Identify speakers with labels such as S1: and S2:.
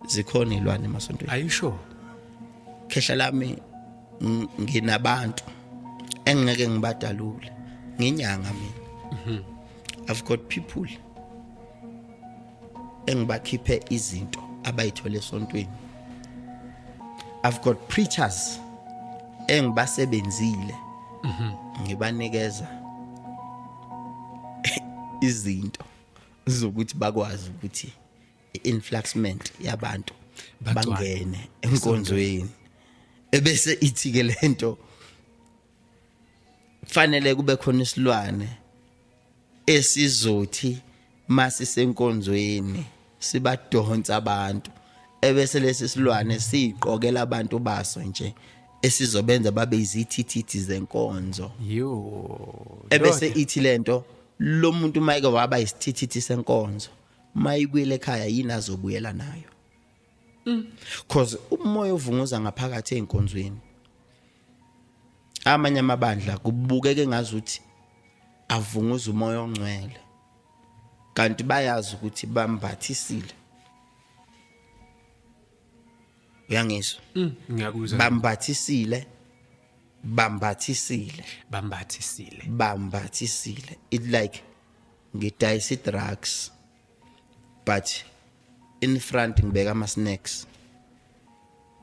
S1: zikhona ilwane emasontweni are you sure
S2: khehla
S1: lami nginabantu engeke ngibadalule nginyanga mina mhm. i've got people engibakhiphe izinto abayithole esontweni i've got preachers engibasebenzile mhm. ngibanikeza izinto zokuthi bakwazi ukuthi influxment yabantu bangene enkonzweni ebese ithi ke lento fanele kube khona isilwane esizothi mase senkonzweni sibadonsa abantu ebese lesi silwane siqokela abantu baso nje esizobenza babe izithithithi zenkonzo yo ebese ithi lento lo muntu mayike waba isithithithi senkonzo mayibuyele ekhaya yini azobuyela nayo mm. cause umoya ovunguza ngaphakathi einkonzweni amanye amabandla kubukeke ngazuthi avunguza umoya ongcwele kanti bayazi ukuthi bambathisile uyangizwa mm, ngiyakuzwa
S2: bambathisile bambathisile
S1: bambathisile bambathisile it like ngidayisa i-drugs but in front ngibeka ama-snacks